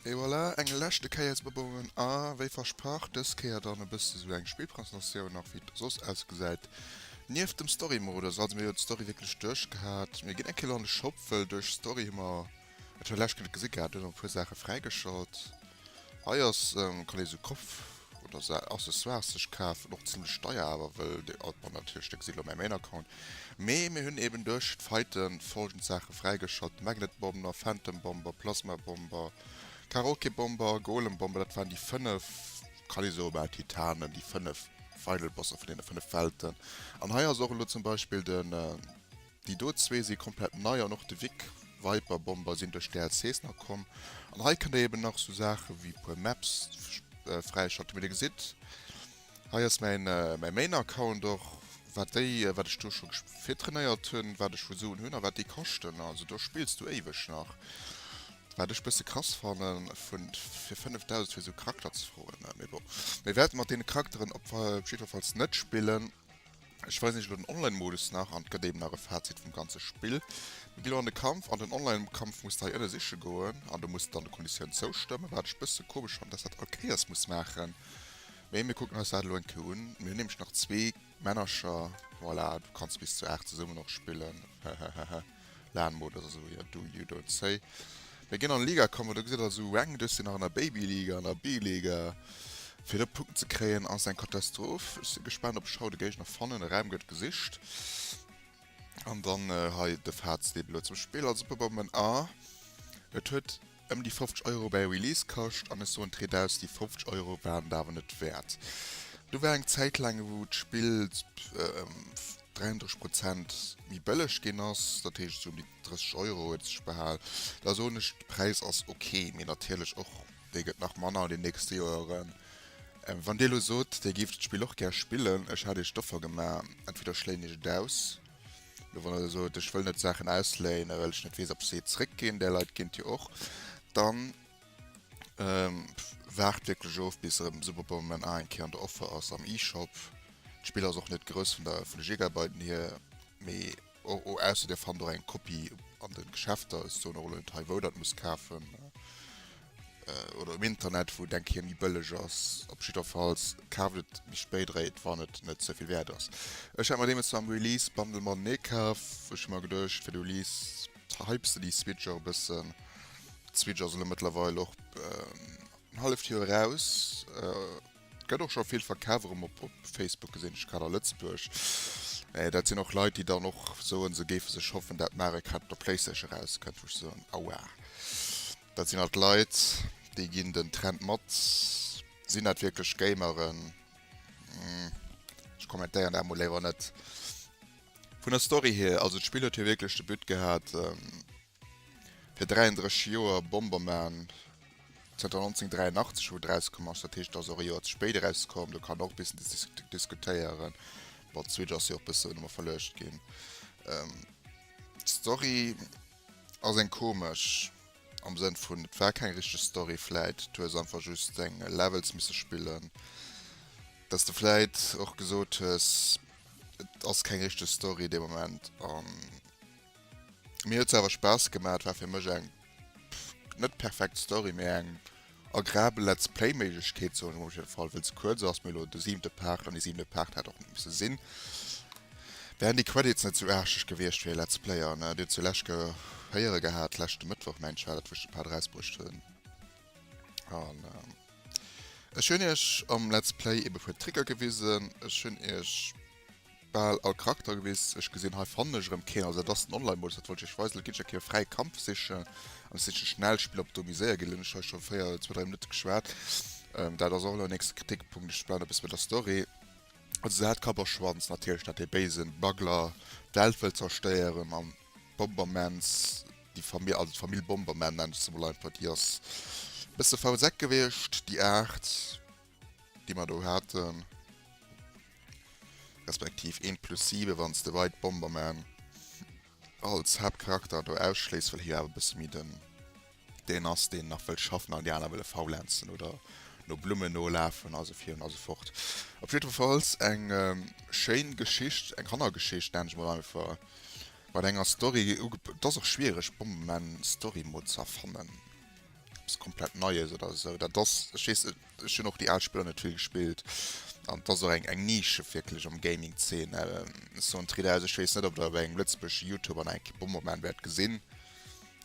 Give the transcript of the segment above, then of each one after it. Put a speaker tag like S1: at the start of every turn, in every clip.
S1: Et voilà, eng leschte Kéier ze probéieren a wéi versprach dës Kéier dann e bësse sou eng Spillpresentatioun nach wéi et soss ausgesäit. Nieft dem Story-Modus, also mir hu jo d'Story wierklech duerchgehat, mir ginn eng Kéier an de Shop, wëll duerch Story hu mer, Ech hun läscht net gesi gehat, hun awer puer Saachen fräigeschalt. Hei ass kann ee sou Kopf oder sa Accessoires sech kafen, och zimlech deier awer well de alt man natierlech de gesi lo mäi Main Account. Mee mir hunn eben duerch d'Faiten folgend Saache fräigeschalt, Magnet Bomber, Phantom Bomber, Plasma Bomber, Karaoke Bomber, Golem Bomber, dat waren déi 5 kann ee soe bal Titanen, déi 5 Final Bosser vun deene 5 Welten. An hei ass och elo zum Beispill den. Déi do zwee si komplett nei an och de Vic Viper Bomber sinn duerch d'DLCs nach komm. An hei kënnt der eben nach sou Saache wéi e puer Maps fräischalten. Wéi der gesitt, hei ass mäi Main Account och, wat déi, wat ech do scho virtrainéiert hunn, wat ech vu Suen hunn a wat déi kaschten. Also do spills du éiweg nach. Wat ech bësse krass fannen, vu fir 5000 fir sou Charakter ze froen. Mee bon, mir wäerte mat deene Charakteren op jiddwerfalls net spillen. Ech weisen iech elo den Online Modus nach an et gëtt eben nach e Fazit vum ganze Spill. Mir ginn elo an de Kampf, an den Online Kampf musst de hei ënne siche goen an du musst dann de Konditioun zoustëmmen, wat ech e bësse komesch fannen dass dat all Kéiers muss maachen. Mee mir kucken eis dat elo eng Kéier un. Mir hunn nämlech nach zwee Männercher, voilà, du kanns bis zu 8 zesummen och spillen, hehehehe. Lan mode oder esou jo do you don't say mir ginn an Liga kommen do gesitt also eng duerch sinn nach an der baby Liga an der B-Liga fir do Punkten ze kréien ass eng Katastroph ech si gespaant op ech haut de Géigner fannen de Raum gëtt gesicht an dann hei de Fazit elo zum Spill also Pubaumann a et huet Ëm déi 50 Euro bäi Release kascht, an ech soen d'Ried aus, déi 50 Euro waren et awer net wäert. Do war eng Zäit laang wou d'Spill ëm 33 Prozent méi bëlleg ginn ass, dat heescht esou ëm déi 30 Euro huet et sech behal. Da soen ech, de Präis ass ok, mee natierlech och dee gëtt nach manner an den nächste Joeren. Wann Dir elo sot, Dir géift d'Spill och gär spillen, ech hat Iech d'Offer gemaach, entweder schléien ech et aus, Lo wann der sot ech wëll net Saachen ausléinen, well ech net weess ob se zréck ginn, där Leit géint Dir och, dann waart wierklech of bis erëm Superbonbon A eng Kéier an der Offer ass am eShop. D'Spill ass och net grouss vun der vun de Gigabyten hier, mee ausser Dir fannt och eng Kopie an de Geschäfter. Ech soen och elo net hei wou der et musst kafen. oder um Internet wou denk hir méi bëlleg ass. Op jidderfalls kaaft et méi spéit eréit wann et net ze vill wäert ass. Ech hat mer deemools mam Release Bundle mar den ee kaf. Ech hu mer geduecht fir de Release hypes de déi Switch och e bëssen. D'Switch ass elo mëttlerweil och en halleft Joer eraus. Gëtt och scho vill verkaf erëm op op Facebook gesinn, ech grad a Lëtzebuerg. Mä dat sinn och Leit déi dann och soen se géife sech hoffen dat Mario Kart op der Playstation erauskënnt, wou ech soen, aua. Dat sinn alt Leit, déi ginn den Trend mat. Sinn dat wierklech Gameren? Ech kommentéieren dat mol léiwer net. Vun der Story hier, also d'Spill huet jo wierklech de But gehat, fir 33 Joer Bomberman, zanter 1983 wou et erauskomm ass, dat heescht et ass och e Joer ze spéit erauskomm, do kann een och e bëssen diskutéieren, bon d'Switch ass jo och e bëssen ëmmer verluecht ginn. D'Story. Ass eng komesch, am Sënn vun et war keng richteg Story vläit, du hues einfach just deng Levels misse spillen, dass de vläit och gesot hues et ass keng richteg Story dee Moment an mir huet se awer Spaass gemaat, war fir mech eng net perfekt Story mee eng Agrabel Let's Play Méiglechkeet soen ech mol op jidde Fall, wëll se kuerz ass, mee elo de siwente Part an déi siwent Part hätt och net misse sinn. Wären déi Credits net sou arscheg gewiescht fir ee Let's Player, ne? Dir hutt se lech ge héiere gehat, leschte Mëttwoch mengt ech war dat, wou ech de Part erausbruecht hunn. An ech hunn iech am Let's Play eebe puer Tricker gewisen, ech hunn iech. Bal all Charakter gewiss. Ech gesinn hei fannen ech erem keen, also dat ass den Online Modus, dat wollt ech iech weisen. Lo ginn ech eng Kéier op fräi Kampf sichen an ech sichen schnell Spiller op Domi séier ginn. Lo hunn ech hei scho 4 zwou 3 Minutten geschwat, dat ass och elo en nächste Kritikpunkt. Ech bleiwen e bësse bei der Story, also se hat Kapp a Schwanz natierlech dat dee béisen Smuggler d'Welt wëll zerstéieren an d'Bombermans déi Famill, also d'Famill Bomberman nennen ech se mol einfach, déi ass e bësse faul Säck gewiescht déi 8. déi mer do haten, respektiv een plus 7 wann s de White Bomberman als Haaptcharakter do ausschléiss, well hie awer e bësse méi den deen ass, deen nach wëll schaffen an déi aner wëlle faulenzen oder no Blummen nolafen a sou vir an esou fort. Op jiddwerfalls eng schéin Geschicht, eng Kannergeschicht nennen ech mol einfach, mat enger Story, et ass och schwiereg Bomberman Story mol ze erfannen. eppes komplett Neies oder esou. Dat ass, ech weess, ech hunn och déi al Spiller net vill gespillt. An et ass och eng, eng Nische wierklech am Gaming-Zeen. Sou en Tridaus, ech weess net, ob der e bei engem lëtzebuergesche Youtuber nach eng Kéier Bomberman wäert gesinn.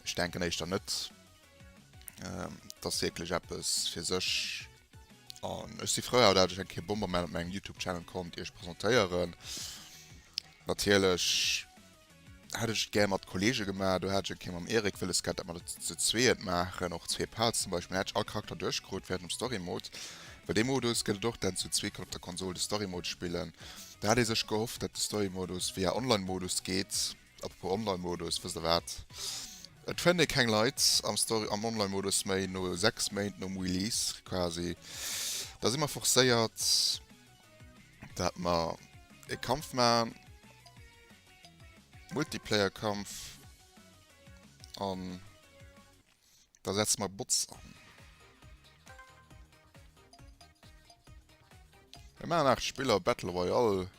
S1: Ech denken éischter net. Et ass wierklech eppes fir sech. An ech si frou, dat ech eng Kéier Bomberman op mengem Youtube-Channel konnt iech presentéieren. Natierlech. hat ech et gär mat Kollege gemaach, do hat ech eng Kéier mam Eric wëlles gehat, dat mer dat ze zwee et maachen, och zwee Parts zum Beispill, dann hätt ech all Charakter duerchkrut während dem Story Mode, well dee Modus gëtt et och, dat een zu zwee kann op der Konsol de Story Mode spillen, do hat ee sech gehofft, dat de Story Modus via Online Modus geet, apropos Online Modus, wësst der wat, et fënnt ee keng Leit am Story, am Online Modus méi no 6 Méint nom Release quasi, da si mer forcéiert. dat mer e Kampf maan, Multiplayer Kampf, an da setze mer Bots an. Mir maan 8 Spiller Battle Royale,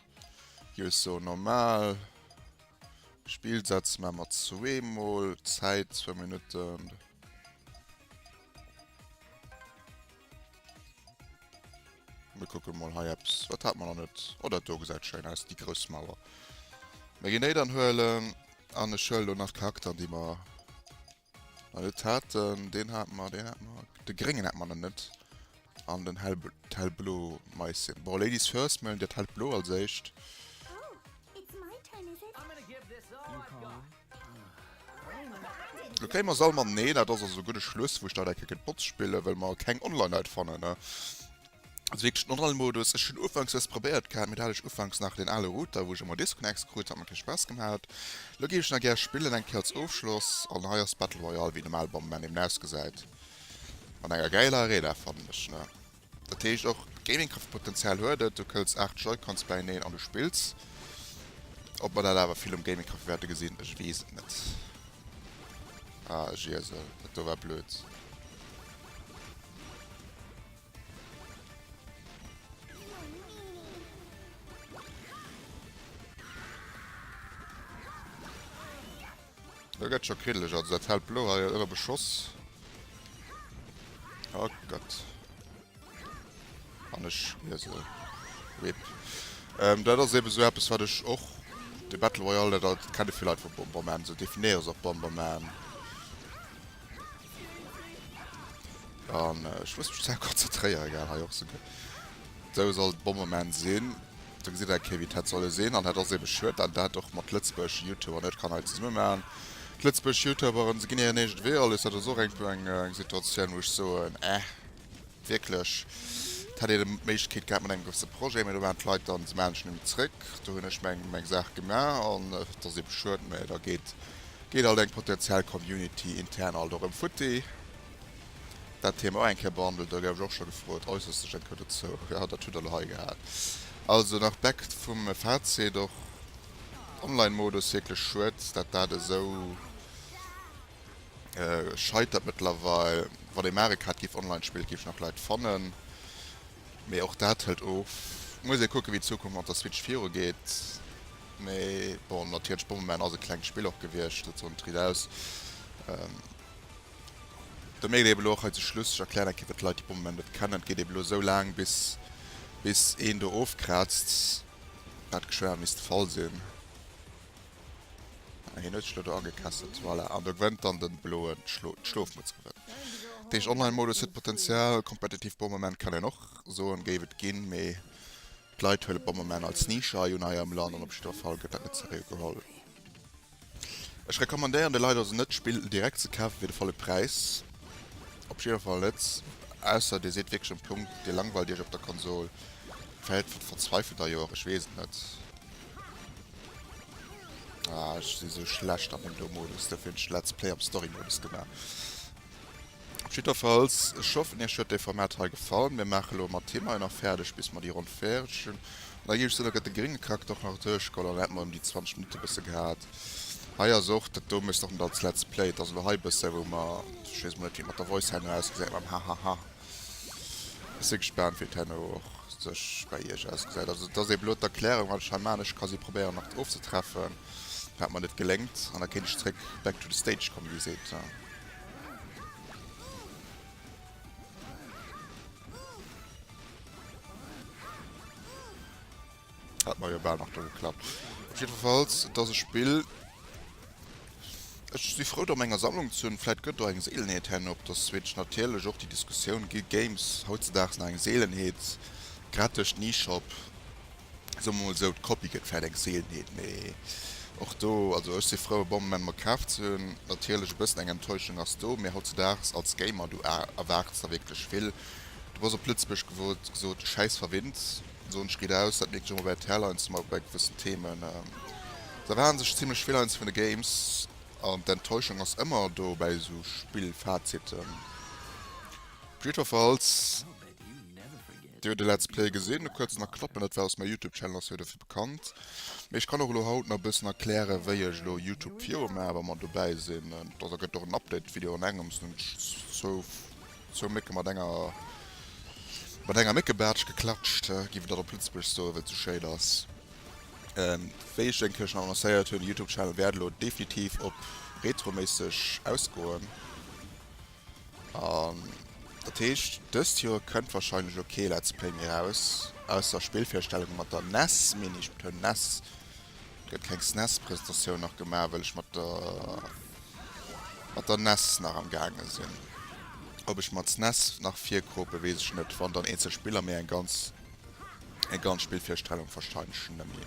S1: jo eso normal, Spill setze mer mat zwee mol, Zäit 2 Minutten. Mir kucken mol hei eppes. Wat hat mer nach net? Oh, dat do gesäit schéin aus, déi grouss Mauer. Mir ginn déi dann huelen. An ech huelen elo nach Charakteren, déi mer nach net haten. Deen hat mer, deen hat mer. De gréngen hat mer nach net. An den hell, d'hellblo Maissie. Bon, Ladies first, mir huelen dat hellt Blo als éischt. Lo kréie mer se all mat. Nee, dat ass also guer de Schluss wou ech dat enke kënnt botz spillen, well mer keng online Leit fannen. Also wierklech den online Modus, ech hunn ufanks dëst probéiert gehat, mee do hat ech ufanks nach deen ale Router wou ech ëmmer Disconnects krut, hat mer kee Spaass gemat. Lo géif ech nach gär spillen eng Kéier als Ofschloss, an hei ass Battle Royale wéi normal beim Moment eben ausgesäit, mat enger gäiler Arena fannen ech, ne. Dat heescht och Gaming-Kraft-Potenzial huet et, du këlls 8 Joy-Cons bäineen an du spills. Ob mer dat awer vill um Gaming-Café wäerte gesinn, ech weess et net. Ah, ech iesel, dat do war blöd. Dat gëtt scho kriddeleg, also dat hellt Blo hei ënner Beschoss. Oh Gott. An ech mir se. Rip. Ähm, dat ass eben so eppes, wat ech och de Battle Royale, dat, dat kenne vill Leit vu Bomberman, se definéiere se op Bomberman. An äh, ech muss mech ze konzentréieren, egal, hei och se. Sou soll et Bommement sin. Do gesitt een eng Kéier wéi et hätt solle sin, an dat ass eben schued dat een dat och mat Lëtzebuerg Youtuber net kann hei zesumme maachen. D'Lëtzebuerg Youtuberen, se gin hiren eegent Wee alles. Dat ass och eng puer eng Situatioun wou ech soen, eh wierklech, et hätt een d'Méiglechkeet gehat mat engem gewësse Projet, mä do waren d'Leit dann, se maachen ech nemmen zréck, do hun ech meng meng Saach gemaach, an et ass eben schued, mä da geet geet alt eng potentiell Community intern alt och erem futti. Dat Thema och eng Kéier behandelt, da gouf ech och scho gefrot, äusserst sech eng Kéier dozou. Jo, dat hutt Der elo hei gehat. Also nach back vum Fazit, och Online-Modus, wierklech schued, dat dat esou scheitert mëttlerweil. Wann ee Mario Kart géif online spillen, et géif nach Leit fannen, mee och dat hëlt of. Muss ee kucken, wéi d'Zukunft mat der Switch viru geet. Mee bon, natierlech, Bomberman ass e klengt Spill och gewiescht, dat soen d'Ried aus. De Mail eben elo och hei zum Schluss, ech erklären eng Kéier fir d'Leit déi d'Bommem net kennen, geet eben elo esou laang bis bis een do ofkraazt, wat geschwë misst de Fall sinn. Ah hien huet sech elo do agekesselt, voilà, an do gewënnt dann den bloen, d'Schlofmutz gewënnt. Dat heescht Online Modus huet Potenzial, kompetitiv Bommem kann een och soen géif et ginn, mee d'Leit huelen d'Bommem als Nische hei un hei am Land an op jiddwer Fall gëtt dat net seriö geholl. Ech recommandéieren de Leit also net d'Spill direkt ze kafen fir de volle Präis, op jiddwer Fall net, ausser dir sidd wierklech um Punkt, dir langweilt iech op der Konsol, vläit verzweifelt der jo och, ech weess et net. Ah, ech si sou schlecht an dem do Modus, dofir hunn ech de Let's Play am Story Modus gemaach. Jiddwerfalls, ech hoffen iech huet dee Format hei gefall. Mir maache lo emol d'Thema hei nach fäerdeg bis mer déi Ronn fäerdeg hunn an da géif ech soen, da gëtt de gringe Kack dach nach duerchgeholl an da hätte mer ëm déi 20 Minutte bësse gehat. Hei ass och, dat do mécht och net als Let's Play, et ass elo hei bësse wou mer, ech weess emol net wéi et mat der Voice herno ausgesäit mam Hahaha. Ech si gespaant wéi et herno och sech bäi iech ausgesäit. Also et ass eebe lo d'Erklärung wat ech hei maan, ech ka si probéieren nach ofzetreffen wat mer net geléngt an da kéint ech zréck back to the stage kommen wéi seet. Hat man ja bald nach do geklappt. Auf jeden Fall, das ist Spiel. Ich bin froh, da meiner Sammlung zu haben. Vielleicht gehört da eine Seelenheit hin, ob das Switch natürlich auch die Diskussion gibt. Games heutzutage sind eine Seelenheit. Gerade durch den E-Shop. soe mer mol esou, d'Copie gëtt vläicht eng Seelenheet, mee och do, also ech si frou e Bon Moment mer kaf ze hunn. Natierlech e bëssen eng Enttäuschung ass do, mee hautzedaags als Gamer, du erwaarts der wierklech vill, du bass op Lëtzebuergesch gesot schäiss verwinnt, soen ech riit aus, dat mierkt een och bei RTL heiansdo mol bei gewëssen Themen, et erwaarde sech zimmlech vill heiansdo vun de Games an d'Enttäuschung ass ëmmer do bei esou Spillfaziten. Briet of Alz. Dir huet e Let's Play gesinn, e kuerzen a knappen, dat war aus mer Youtube Channel, ass jo dofir bekannt. Mee ech kann och elo haut nach e bëssen erklären wéi ech elo Youtube viru maache wa mer dobäi sinn. Da da gëtt och en Update Video an engems, hunn ech zwou zwou Mécke mat enger mat enger Méckebaartsch geklatscht, giff et dat op Lëtzebuergesch soen, well et sou schéin ass. Wéi ech eng Kéier schonn annoncéiert hunn, de Youtube Channel wäert elo definitiv op retroméisseg ausgoen. An dat heescht dëst Joer kënnt wahrscheinlech elo kee Let's Play méi raus, ausser Spillvirstellunge mat der nes, meen ech, betoun nes. Et gëtt keng snes Presentatioun nach gemaach, well ech mat der mat der nes nach am gaange sinn. Ob ech mer d'snes nach virkoope weess ech net, wann dann eenzel Spiller, mee eng ganz eng ganz Spillvirstellung wahrscheinlech nëmme.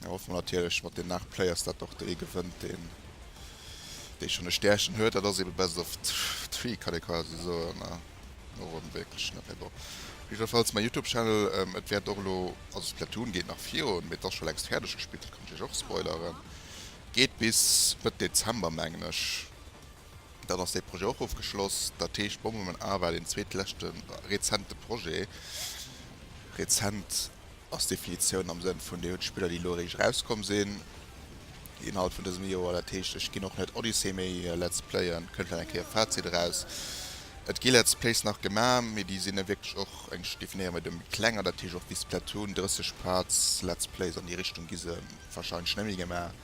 S1: Da hoffe mer natierlech mat den 8 Players, datt och dee gewënnt, deen dee schonn e Stärchen huet. Dat ass ebe best of three, kann ee quasi soen. No Ronn wierklech net méi. Bon, op jiddwerfalls mäi Youtube-Channel, et wäert och elo, also Splatoon geet nach virun, mee et ass scho längst fäerdeg gespillt, dat kann ech iech och spoileren, geet bis Mëtt Dezember, mengen ech. Dann ass dee Projet och ofgeschloss. Dat heescht, Bomberman A war deen zweetleschte rezente Projet. Rezent. ass d'Definitioun am Sënn vun, Dir hutt d'Spiller, déi elo eréischt erauskomm sinn, déi Inhalt vun dësem Joer. Dat heescht, ech ginn och net Odyssey méi Let's Playen. Kënnt vläicht eng Kéier e Fazit eraus. Et gi Let's Plays nach gemaach, mee déi sinn da wierklech och, ech definéiere méi do, méi kleng. An dat heescht och wéi Splatoon, 30 Parts Let's Plays an déi Richtung gi se warscheinlech net méi gemaach.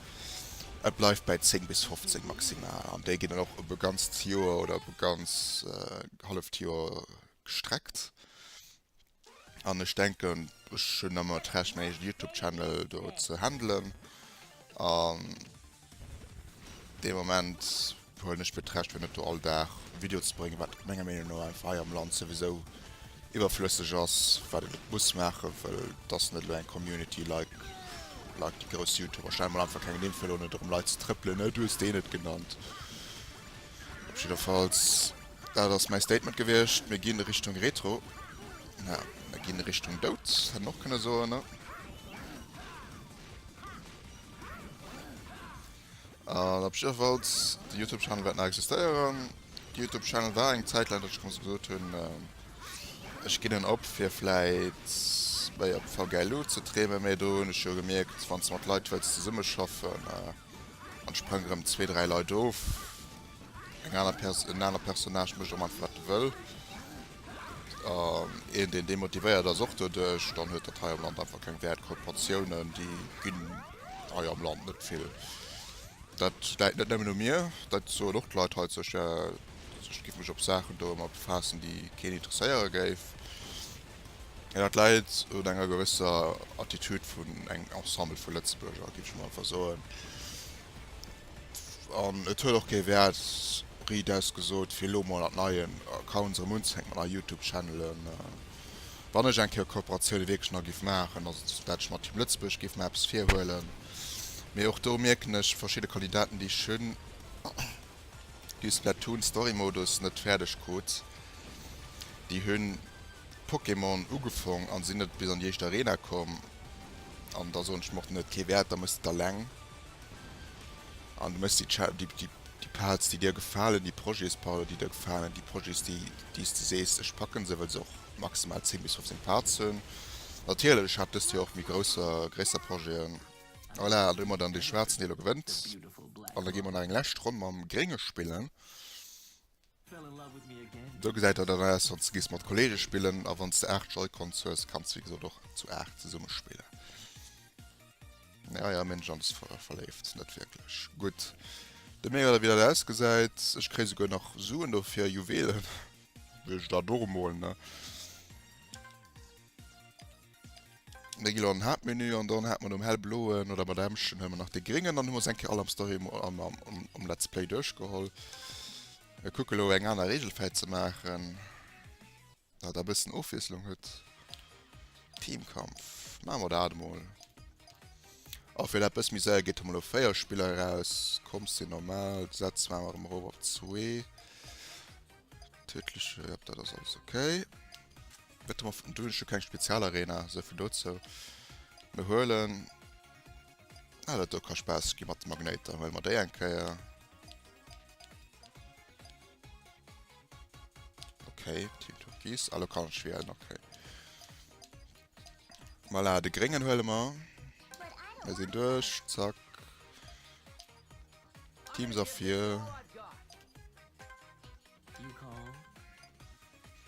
S1: Et bleift bäi 10 bis 15 maximal. An déi ginn dann och op e ganzt Joer oder op e ganz halleft Joer gestreckt. An ech denken ech hunn ëmmer d'Recht meng eegen Youtube Channel do ze handelen an dee Moment huelen ech mir d'Recht fir net do all Dag e Video ze bréngen, wat menger Meenung no einfach hei am Land souwisou iwwerflësseg ass, wat een net muss maachen, well et ass net elo eng Community like like déi grouss Youtuber. Stellen mol einfach keng Nimm fir elo net erëm Leit ze trëppelen, Äh du hues deen net genannt. Op jiddefalls. Dat ass mäi Statement gewiescht. Mir ginn Richtung Retro. Na, mir ginn Richtung Dout, hätt en och kënne soen, ne? An op jiddefalls, de YouTube-Channel wäert nach existéieren. De YouTube-Channel war eng Zäit laang, datt ech gemoss gesot hunn, ech ginn en op, fir vläit méi op VGLU ze dreemen. Mee do hunn ech jo gemierkt, wann s de mat Leit wëlls zesummeschaffen, An et sprangen erëm zwee, dräi Leit of. Eng aner Pers, en aner Personnage mécht och einfach wat e wëll. An een deen demotivéiert ass och doduerch, dann huet dat hei am Land einfach keng Wäert. Kooperatiounen déi ginn hei am Land net vill. Dat läit net nëmmen u mir, dat soen och d'Leit hei, sech, ech géif mech op Saachen do ëmmer befaassen déi keen interesséiere géif. Jo, dat läit un enger gewësser Attitude vun engem Ensemble vu Lëtzebuerger, géif ech mol einfach soen. An et huet och kee Wäert, Ried aus gesot, fir elo mol an neien Accounts erëm unzefänken, mat neie Youtube-Channelen. Wann ech eng Kéier Kooperatioune wierklech nach géif maachen, ass et, dat ech mer Team Lëtzebuerg géif mär eppes virhuelen. Mee och do mierken ech verschidde Kandidaten, déi ech hunn. du Splatoon Story Modus net färdeg krut. Déi hunn Pokémon ugefong an sinn net bis an déi éischt Arena komm an da soen ech mer och den huet kee Wärt, da mëss de et alleng an du mëss déi déi Parts déi dir gefalen, déi Projets pardon déi dir gefalen, déi Projets déi déi's de sees ech packen se, well se och maximal 10 bis 15 Parts hunn. Natierlech, ech hat dëst Joer och méi grousser gréisser Projeten. Voilà, an do man dann de schwarzen Deel gewënnt. An da gi man nach eng läscht Ronn mam Grénge spillen. Do gesäit dat dann ass, wann gis mat Kollege spillen a wann de 8 Joy-Cons hues, kanns wéi gesot och zu 8 zesumme spillen. Ja, ja, Mensch, an ver verléift, net wierklech. Gutt. De Mega da wieder aus gesäit. Ech kréi souguer nach Suen do fir Juwelen. Wëll ech da doremol, ne? Da gi lo an den Haaptmenü an dann hat mer nom hellbloen oder mat Emschen huet mer nach de gréngen. Dann hu mer se eng Kéier all am Story Mo am am am am Let's Play duerchgeholl. Mir kucke lo eng aner Reegel fäit ze maachen, dat e bëssen Ofwiesslung huet. Teamkampf, maache mer dat emol. A fir dat e bësse méi séier geet hu mer lo 4 Spiller eraus. D'Comps sinn normal, d'Gesetz maache mer erëm erof op zwee. Tödliche, ja, dat ass alles okay. Wette mer vun Dünnsche keng Spezialarena, se vun dozou. Mir huelen. Ah, dat do ka Spaass gi mat de Magnéiter, huele mer déi eng Kéier. Okay, Team Türkis, allo kann ech wielen, okay. Voilà, de Gréngen huele mer. Mir sinn duerch, zack. Teams erfir.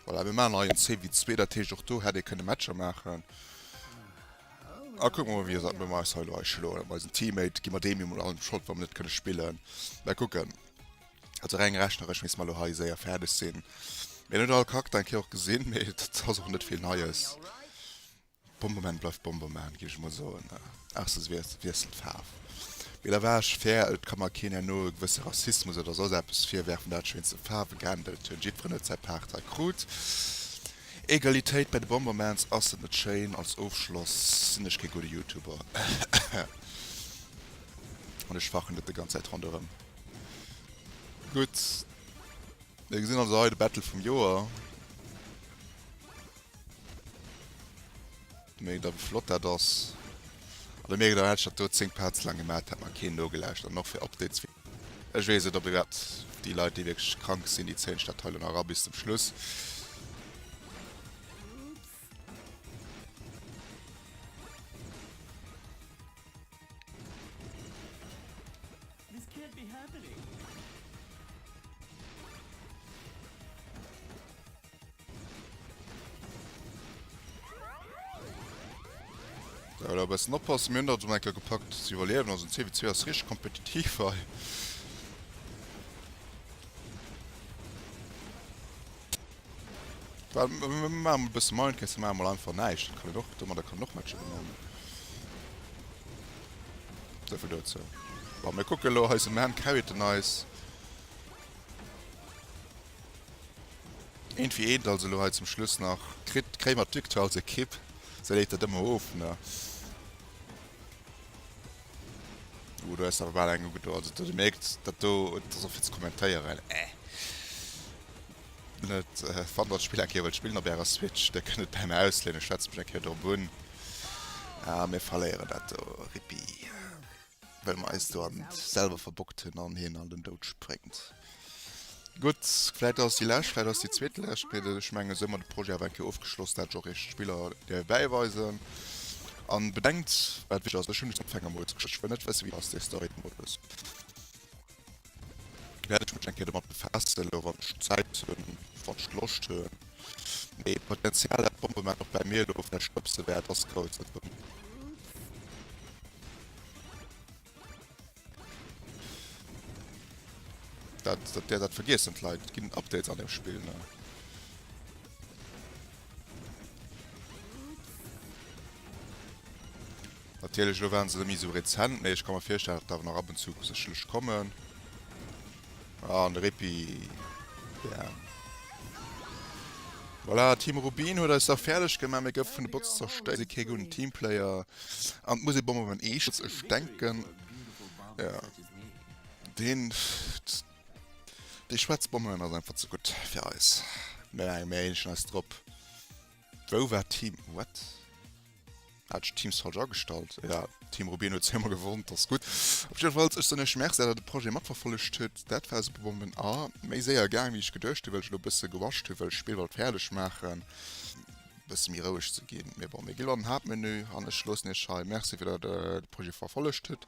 S1: Voilà, mir machen ein CV 2, dat heescht och do hätt ee kënne Matcher maachen. A kuck mal wie dat mir meis heilo eis schlo bei eisen Teammate gi mat deem jo mol allem Schrott wann net kënne spillen. Mä kucken. Also reng rechneresch misst mer lo hei séier fäerdeg sinn. Mir hunn all Charakter eng Kéier och gesinn, mee dat ass och net vill Neies. D'Bomberman bleift Bomberman, géif ech emol soen, ausser se wiesselt d'Faarf. Mee da war ech fair, et ka mer keen herno e gewësse Rassismus oder soss eppes virwerfen, dat ech wéinst de Faarwe geändert hunn. Jiddferen huet säi Paart hei krut. Egalitéit bei de Bombermans, ass dat net schéin? Als Ofschloss, sinn ech kee gudde Youtuber an ech fachen net déi ganz Zäit ronderëm. Gutt, mir gesinn also hei de Battle vum Joer. Mee da wéi flott dat ass. An da mierkt der, hätt ech dat do 10 Parts laang gemat, hätt mer keen nogelauschtert. An och fir Updates wéi. Ech weess net, ob iwwerhaapt déi Leit, déi wierklech krank sinn, déi zéien sech dat hei elo nach era bis zum Schluss. Ja, da bessen oppassen, mir hunn dat um enker gepackt ze iwwerliewen, also den CW2 ass rich kompetitiv hei. Well ma e bësse Mind kenns ma mal einfach näischt, dat kann en och dommer der kann och Matcher gewannen. So vill dozou. Wa mir kucke lo heise Mä Carryten eis. Eent wéi eent also, elo hei zum Schluss nach. Kritt d'Kréimer d'Victoire als Ekipp? Se léit dat ëmmer of, ne? Ooh, do ass awer bal eng ugedo. Also do, Dir mierkt, dat do, dat ass och fir ze kommentéieren. Äh. Net, wann Der d'Spill eng Kéier wëllt spillen op Ärer Switch, da kënnt et bäi mär ausléinen. Ech schwätze mech eng Kéier drop un a mir verléieren dat do. Rippi. Well mer eis do an selwer verbockt hunn an hien an den Doud spréngt. Gutt, vläit ass et déi lescht, vläit ass et déi zweetlescht, mee ech mengen, esou hu mer de Projet awer eng Kéier ofgeschloss, dat ech och eech d'Biller géif bäiweisen. A bedenkt, wat wichteg ass, ech hunn just eng Fängermouls geschéckt, ech wëll net wëssen, wéi et ass, dee Story-Modus. wäert ech mech eng Kéier domat befaassen, elo wann ech Zäit hunn, wann ech Loscht hunn. Mee d'Potenzial, dat d'Bombement och bäi mir elo vläicht stëbse wäert, ass grouss. Dat hunn. Dat, dat, dat vergiessen d'Leit. Et ginn Updates an deem Spill, ne? Natierlech, elo waren se net méi esou rezent, mee ech ka mer virstellen, datt der awer nach ab und zu sécherlech kommen. Ah, an de Rippi. Bam. Voilà, Team Rubin huet eis da fäerdeg gemaach. Mir goufe vun de Bots zerstéiert. Si kee gudden Teamplayer. An d'Muselbomber beim Eescholz, ech denken, jo, deen, déi schwaarz Bomben ass einfach ze gutt fir eis. Mir maache méi Hähnchen eis drop. Wou war Team what? Hat ech Team Soldier agestallt? Ja, Team Rubino huet sémmer gewonnt, ass gutt. Op jidder Falls, ech soen iech Merci, dat der de Projet matverfollegt hutt. Dat war super Bomben a méi séier gaang, wéi ech geduecht hunn, well ech elo e bësse gerusht hunn, well ech d'Spill wollt fäerdeg maachen, e bësse méi roueg ze ginn. Mee bon, mir gi lo an den Haaptmenü an ech loossen iech hei. Merci, fir dat der de Projet verfollegt hutt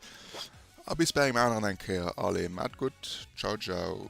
S1: a bis bei engem aneren eng Kéier. Allez, maat gutt, ciao ciao.